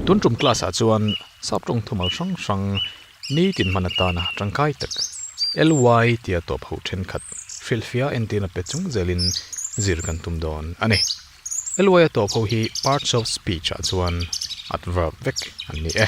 Tun tum class ah chuan sap tawng thumal hrang hrang ni tin hman atana tangkai tak ly tia tawp ho thenkhat hrilhfiah en tirna pe chung zel in zir kan tum dawn a ni. Ly a tawp ho hi parts of speech ah chuan adverb vek an ni e.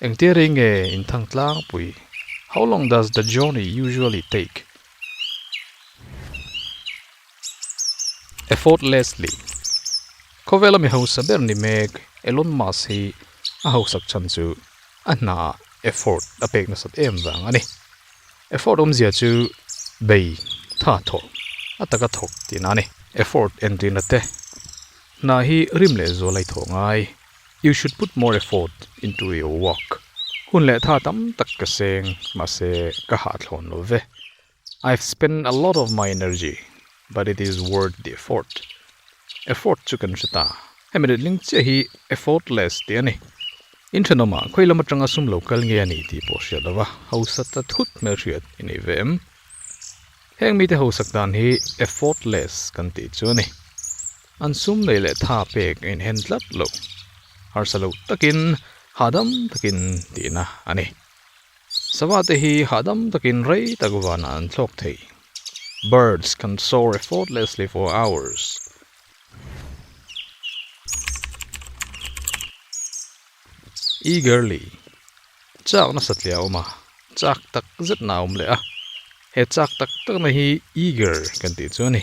Engtia rei nge inthang tlangpui? How long does the journey usually take? Effortlessly. Khawvela mi hausa ber ni mek Elon Musk hi a hausak chhan chu a hnaah effort a pek nasat em vang a ni. Effort awmzia chu bei, tha thawh, a taka thawk tihna a ni. Effort en tihna te hna hi rim leh zual a i thawh ngai. You should put more effort into your work. Hun leh tha tam tak ka seng, mahse ka hahthlawn lo ve. I've spent a lot of my energy, but it is worth the effort. Effort chu kan hre ta. Hemi rilling chiah hi effortless tih a ni. In thenawmah khawi lam atanga sum lo kal nge a ni tih pawh hria lova, hausa ta thut hmel hriat i nei ve em? Heng mite hausak dan hi effortless kan tih chu a ni. An sum nei leh tha pek in hen tlat lo, harsa lo takin hahdam takin tihna a ni. Sava te hi hahdam takin rei tak vanah an thlawk thei. Birds can soar effortlessly for hours. Eagerly, chak nasa tliah awm a, chak tak zetna a awm leh a. He chak tak takna hi eager kan tih chu a ni.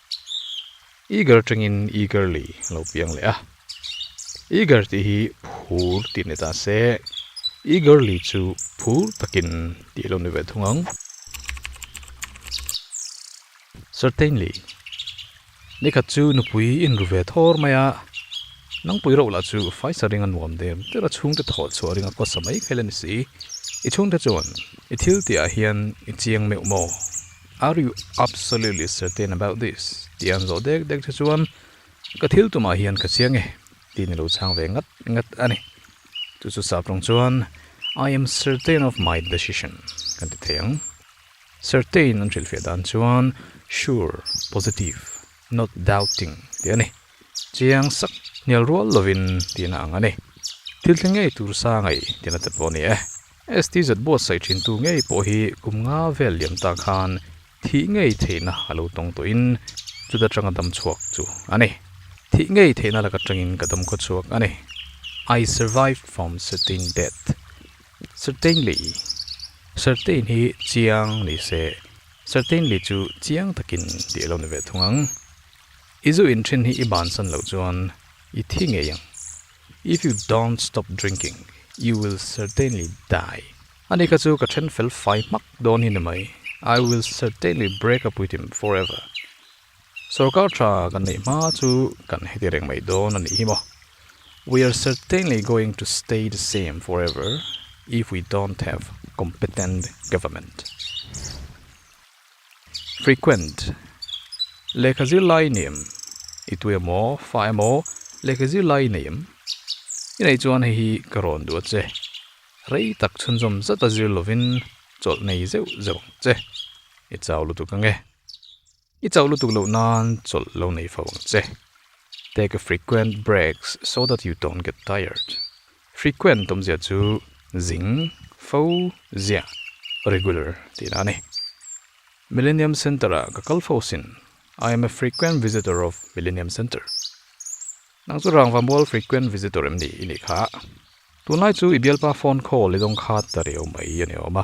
Eager tengin eagerly lo piang leh a. Eager tih hi phur tih ni ta se, eagerly chu phur takin tih lo ni ve thung ang. Certainly, nikhat chu nupui in ru ve thawr mai a, nangpui reuh lah chu faisa ring a nuam der der a, chhungte thaw chhuah ring a kawsa mai kha ila ni si. I chhungte chuan i thil tihah hian i chiang meuh maw? Are you absolutely certain about this? tih an zawh dek dek che chuan ka thil tumah hian ka chiang e tiin i lo chhang ve ngat ngat a ni. Chu chu sap rawng chuan I am certain of my decision kan ti thei ang. Certain an hrilhfiah dan chuan sure, positive, not doubting tih a ni. Chiang sak, hnial rual lovin tihna ang a ni. Thil thleng ngei tur sa ngai tihna te pawh a ni e. STZ buatsaih thintu ngei pawh hi kum nga vel liam ta khan thih ngei theihna a lo tawng tawh in chu ta tang a dam chhuak chu a ni. Thih ngei theihna lak atang in ka dam khaw chhuak a ni. I survived from certain death. Certainly, certain hi chiang ni se, certainly chu chiang takin tih a lo ni ve thung ang. I zu in thin hi i bansan loh chuan i thi ngei ang. If you don't stop drinking, you will certainly die. A ni kha chu ka then fel fai hmak dawn hi ni mai. I will certainly break up with him forever. Sorkar tha kan neih hma chu kan heti reng mai dawn a nih hi maw. We are certainly going to stay the same forever if we don't have competent government. Frequent, Lehkha zirlai ni em? I tu emaw, fa emaw, lehkha zirlai nei em? I nei chuan hei hi ka rawn duh a che. Rei tak chhunzawm zata zir lovin chawlh nei zeuh zeuh ang che. I chau lutuk ange. I chau lutuk loh nan chawlh lo nei fo ang che. Take a frequent breaks so that you don't get tired. Frequent awmzia chu zing, fo, zia, regular, tih la a ni. Millennium Centre-a ka kal fo sin, I am a frequent visitor of Millennium Centre. Nang chu rangva mual frequent visitor em ni? I nih kha. Tunlai chu i bialpa phone call i dawng khat ta riau mai a ni awm a.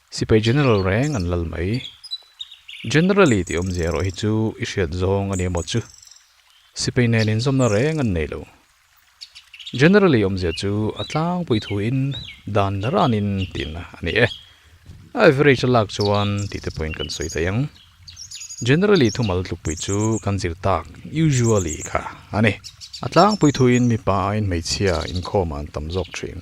Sipai general reng an lal mai. Generally tih awmzia erawh hi chu i hriat zawng a ni amaw chu? Sipai nen inzawmna reng an nei lo. Generally awmzia chu a tlangpui thuin dan ranin tihna a ni e. Average a lak chuan tihte pawhin kan sawi thei ang. Generally thumal tlukpui chu kan zir tak usually kha a ni. A tlangpui thuin mipa aiin hmeichhia inkhawma an tam zawk thin.